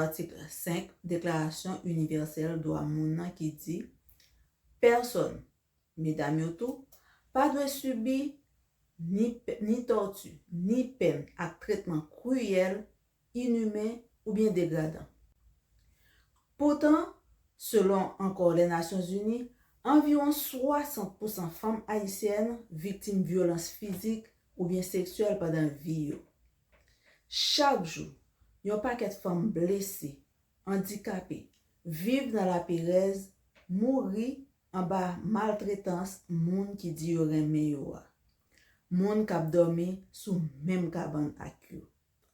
Atik 5, Deklarasyon Inivèsèl Dwa Moun nan ki di, Pèsòn, medam yo tou, pa dwe sibi ni ni tòti, ni pèn ak tretman kriyèl, inimen oubyen degradan. Poutan, selon ankò Lènasyonzini, anviwon 60 pousan fanm ayisyèn viktim vyolans fizik oubyen seksyèl pandan vi yo. Chak jou, yon pakèt fanm blese, andikape, viv nan laperèz, mouri anba maltretans moun ki di yo renmen yo a. Moun k ap dòmi sou menm kabann ak yo.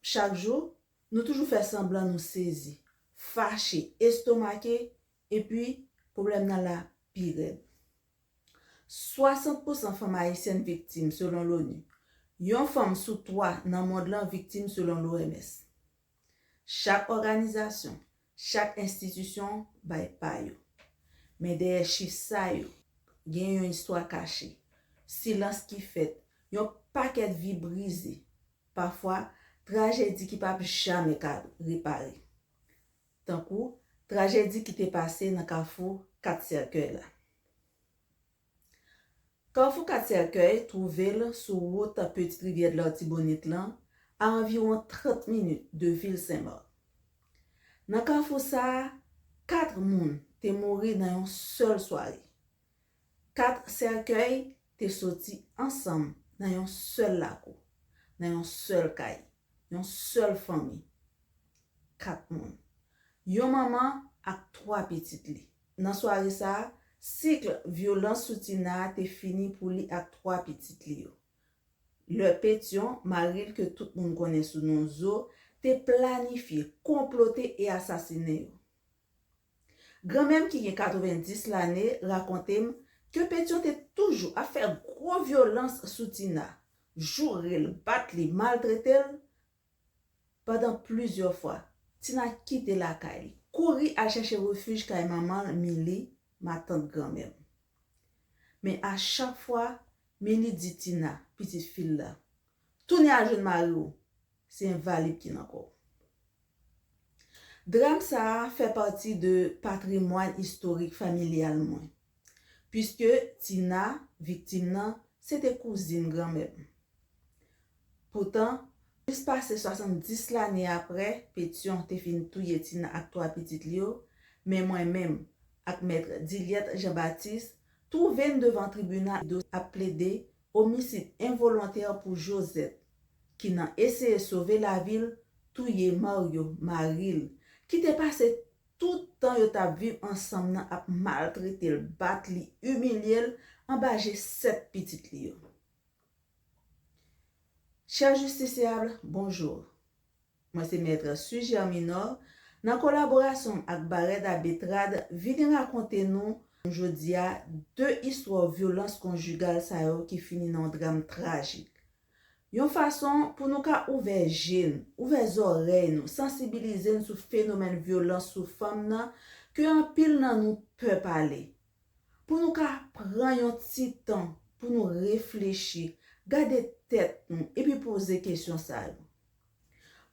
Chak jou, nou toujou fè sanblan nou sezi, fache, estomake, epi pwoblèm nan la pi rèd. 60 pousan fanm ayisyèn viktim, selon l'ONU. Yon fanm sou 3 nan mond lan viktim selon l'OMS. Chak òganizasyon, chak enstitisyon bay pa yo. Men dèyè chif sa yo, gen yon istwa kache. Silans ki fèt, yon pakèt vi brize, pafwa trajedi ki pap jamè ka repare. tankou trajedi ki te pase nan kafou 4 sèkèy la. Kafou 4 sèkèy twouve l sou wout Petite Rivière de l'Artibonite lan a anviwon 30 minit de vil Sen Mak. Nan kafou sa a, 4 moun te mouri nan yon sèl sware. Kat sèkèy te soti ansanm nan yon sèl lakou, nan yon sèl kay, yon sèl fanmi, kat moun, yon manman ak twa pitit li. Nan sware sa a, sikl vyolans sou Tina a te fini pou li ak twa pitit li yo. Lè Petyon, mari l ke tout moun konnen sou non Zo, te planifye, konplote e asasinen yo. Granmè m ki gen 90 lane rakonte m ke Petyon te toujou ap fè gwo vyolans sou Tina, joure l, bat li, maltrete l pandan plizyè fwa. Tina kite lakay li, kouri al chache refij kay manman l Mili, matant granmè m. Men a chak fwa, Mili di Tina, pitit fi l la, Tounen al jwenn mari w! Se envalid ki nan kò w. Dram sa a fè pati de patrimwàn istorik familyal mwen, piske Tina, viktim nan, se te kouzin granmè m. Poutan, plis pase 70 lane apre Petyon te fin touye Tina ak twa pitit li yo, men mwen menm ak mèt Dilliette Jean Baptiste twouve n devan tribinal dosye ap plede Omisid envolontè pou Josette ki nan eseye sove lavi l touye Mario, mari l, ki te pase tout tan yo t ap viv ansanm nan ap maltrete l, bat li, imilye l anba je 7 pitit li yo. Chers justiciables, bonjour. Mwen se Maître Suger Minor, nan kolaborasyon m ak Bareda Betrad vini rakonte nou jodi a 2 istwa vyolans konjigal sa yo ki fini nan yon dram trajik. Yon fason pou nou ka ouvè je n, ouvè zòrèy nou, sansibilize n sou fenomèn vyolans sou fanm nan ke anpil nan nou pè pale. Pou nou ka pran yon ti tan pou nou reflechi, gade tèt nou epi poze kesyon sa yo.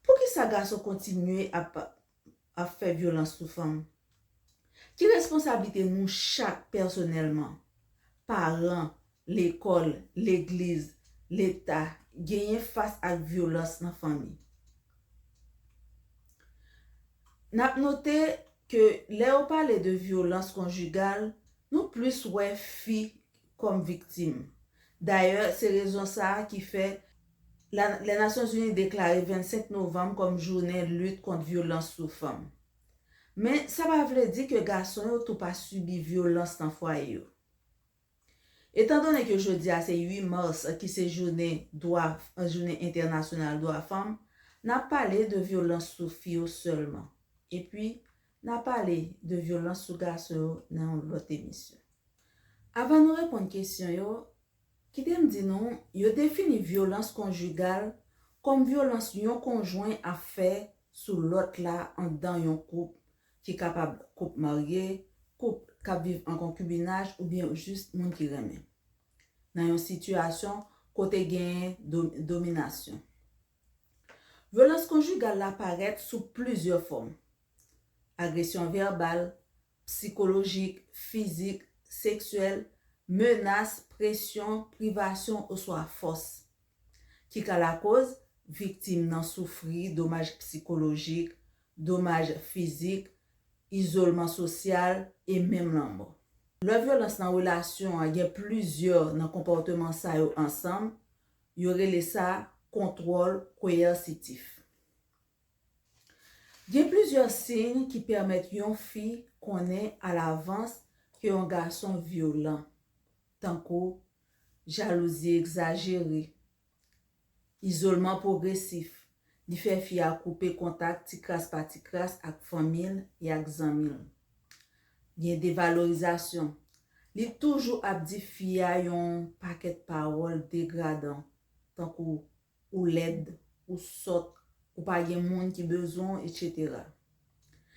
Poukisa gason kontinye ap ap fè vyolans sou fanm? Ki responsablite nou chak pèsonèlman, paran, lekòl, legliz, leta, genyen fas ak vyolans nan fanmi? N ap note ke lè yo pale de vyolans konjigal, nou plis wè fi kòm viktim. Dayè, se rezon sa a ki fè la lè Nasyonzini deklare 25 novanm kòm jounen lit kont vyolans sou fanm. Men, sa pa vle di ke gason yo tou pa sibi vyolans nan fwaye yo. Etan done ke jodi a se 8 mas ki se jounen dwa jounen entènasyonal dwa fanm, n ap pale de vyolans sou fi yo sèlman. Epi, Na pale de vyolans sou gason yo nan yon lòt emisyon. Avan nou reponn kesyon yo, kite m di nou, yo defini vyolans konjigal kòm vyolans yon konjwen ap fè sou lòt la anndan yon koup ki kapab koup marye, koup k ap viv an konkibinaj oubyen jis moun ki renmen. Nan yon sitiyasyon kote genyen dominasyon. Vyolans konjigal la parèt sou plizyè fòm, agresyon vèbal, psikolojik, fizik, seksyèl, menas, presyon, privasyon oswa fòs, ki ka lakoz viktim nan soufri domaj psikolojik, domaj fizik, izolman sosyal e menm lanmò. Lè vyolans nan relasyon an gen plizyè nan konpòteman sa yo ansanm, Yo rele sa kontwòl koyèsitif. Gen plizyè siy ki pèmèt yon fi konnen alavans ke yon gason vyolan, tankou jalouzi egzajere, izolman pwogresif, Li fè fi a koupe kontak ti kras pa ti kras ak fanmi l e ak zanmi l. Gen devalorizasyon. Li toujou ap di fi a yon pakèt pawòl degradan, tankou ou lèd, ou sòt, ou pa gen moun ki bezwen w, etc.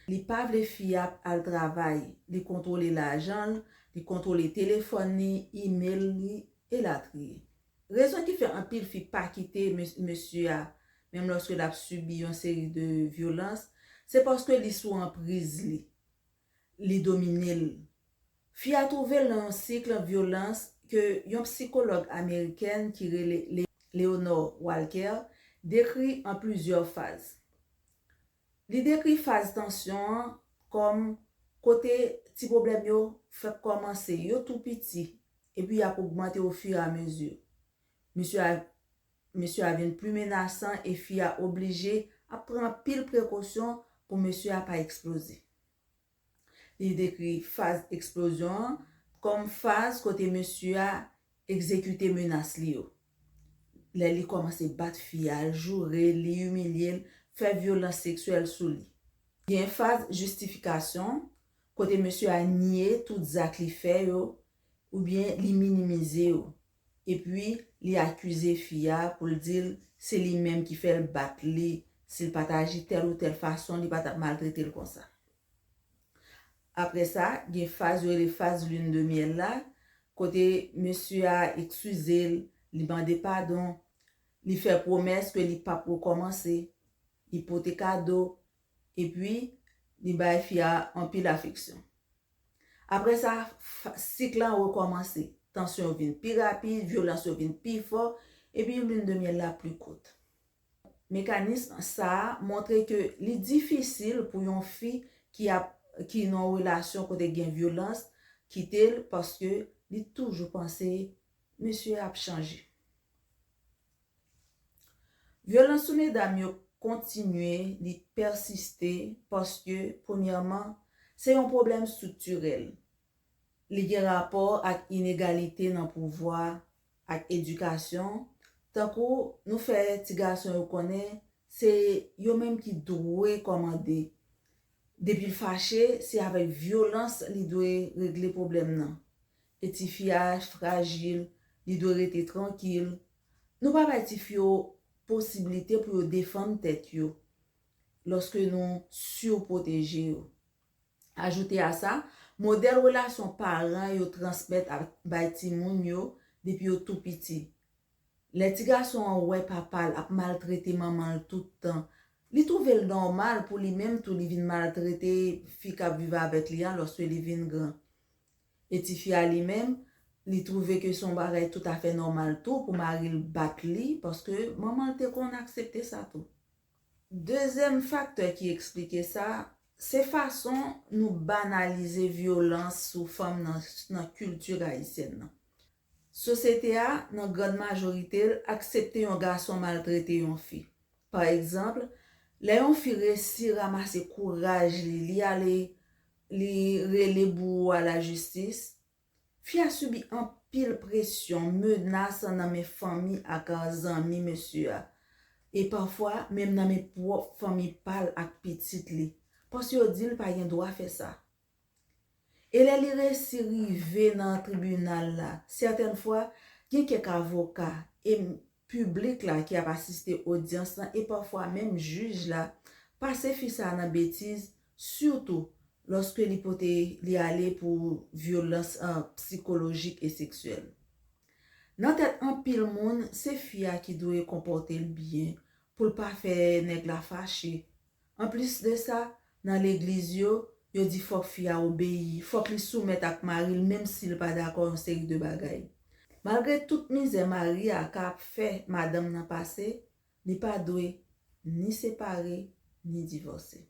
Li pa vle fi a al travay, li kontwole lajan l, li kontwole telefòn li, email li, elatriye. Rezon ki fè anpil fi pa kite mesye a menm lòske l ap sibi yon seri de vyolans, se paske li sou anpriz li, li domine l. Fi a twouve l nan yon sikl vyolans ke yon psikològ amerikèn ki rele Leonore Walker dekri an plizyè faz. Li dekri faz tansyon an kòm kote ti pwoblèm yo fèk kòmanse, yo tou piti, epi y ap ogmante ofiramezi. Mesye a Mesye a vin pli menasan e fi a oblije ap pran anpil prekosyon pou mesye a pa eksploze. Li dekri faz eksplozyon an kòm faz kote mesye a egzekite menas li yo, lè li kòmanse bat fi a, joure li, imilye l, fè vyolans seksyèl sou li. Gen faz jistifikasyon, kote mesye a nye tout zak li fè yo oubyen li minimize yo. Epi li akize fi a pou l di l se li menm ki fè l bat li, si l pa t aji tèl ou tèl fason li pa t ap maltrete l konsa. Aprè sa, gen faz yo rele faz lune de miel la, kote mesye a ekskize l, li mande padon, li fè pwomès ke li p ap rekòmanse, li pote kado, epi li bay fi a anpil afeksyon. Apre sa, sik lan rekòmanse. Tansyon yo vin pi rapid, vyolans yo vin pi fò, epi lune de miel la pli kout. Mekanism sa a montre ke li difisil pou yon fi ki ap ki nan yon relasyon kote gen vyolans kite l paske li toujou panse mesye a ap chanje. Vyolans sou medam yo kontinye, li pèsiste paske premyèman, se yon pwoblèm striktirèl. Li gen rapò ak inegalite nan pouvwa ak edikasyon, tankou nou fè ti gason yo konnen se yo menm ki dwe kòmande. Depi l fache, se avèk vyolans li dwe regle pwoblèm nan. E tifi a frajil, li dwe rete trankil. Nou pa bay tifi yo posibilite pou yo defann tèt yo lòske nou surpwoteje yo. Ajoute a sa, modèl relasyon paran yo transmèt ak bay timoun yo depi yo tou piti. Lè ti gason an wè papa l ap maltrete manman l tout tan, li twouve l nòmal pou li menm tou li vin maltrete fi k ap viv avèk li a lòske li vin gran. E ti fi a li menm, li twouve ke se yon bagay tout afè nòmal tou pou mari l bat li, paske manman l te konn aksepte sa tou. Dezyèm faktè ki eksplike sa, se fason nou banalize vyolans sou fanm nan kilti ayisyèn nan. Sosyete a, nan gran majorite l, aksepte yon gason maltrete yon fi. Pa egzanp, lè yon fi resi ramase kouraj li, li ale li rele bouwo a lajistis, fi a sibi anpil presyon, menas nan men fanmi ak zanmi mesye a, e pafwa menm nan men pwòp fanmi pa l ak pitit li, paske yo di l pa gen dwa fè sa. E lè li resi rive nan tribinal la, sètèn fwa, gen kèk avoka e piblik la ki ap asiste odyans lan e pafwa menm jij la pase fi sa a nan betiz sitou lòske li pote li ale pou vyolans psikolojik e seksyèl. Nan tèt anpil moun, se fi a ki dwe konpòte l byen pou l pa fè nèg la fache Anplis de sa, nan legliz yo, yo di fòk fi a obeyi, fòk li soumèt ak mari l menm si l pa dakò yon seri de bagay. Malgre tout mizè mari a ka ap fè madanm nan pase, li pa dwe ni separe ni divòse.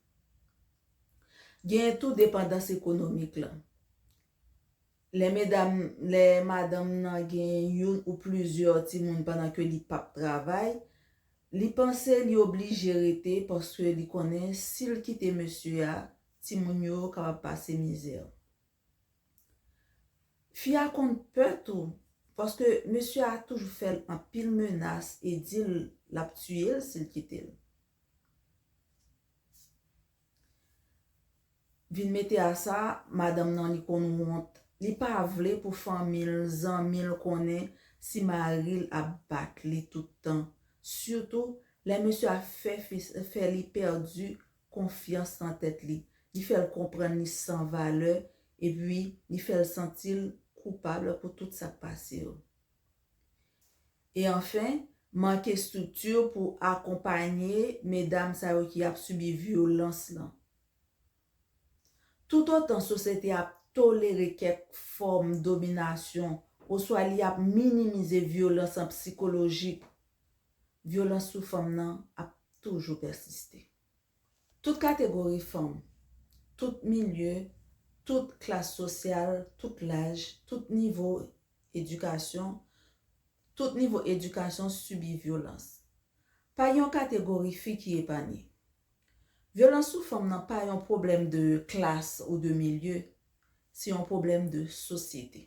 Genyen tou depandans ekonomik lan. Lè medam, lè madanm nan gen youn ou plizyè timoun pandan ke li pap travay, li panse li oblije rete paske li konnen si l kite mesye a, timoun yo kapab pase mizè. Fi a konn pè tou, paske mesye a toujou fè l anpil menas e di l lap tiye l si l kite l. Vin mete a sa, madanm nan li konn wont, li pa vle pou fanmi l, zanmi l konnen si mari l ap bat li tout tan, sitou lè mesye a fè li pèdi konfyans nan tèt li, li fè l konprann li san valè epi li fè l santi l koupab pou tout sa k pase yo. E anfen, manke estrikti pou akonpanye medam sa yo ki ap sibi vyolans lan. Toutotan sosyete ap tolere kèk fòm dominasyon oswa li ap minimize vyolans an psikolojik, vyolans sou fanm nan ap toujou pèsiste. Tout kategori fanm, tout milye, tout klas sosyal, tout laj, tout nivo edikasyon, tout nivo edikasyon sibi vyolans. Pa gen yon kategori fi ki epanye. Vyolans sou fanm nan pa yon pwoblèm de klas ou de milye, se yon pwoblèm de sosyete.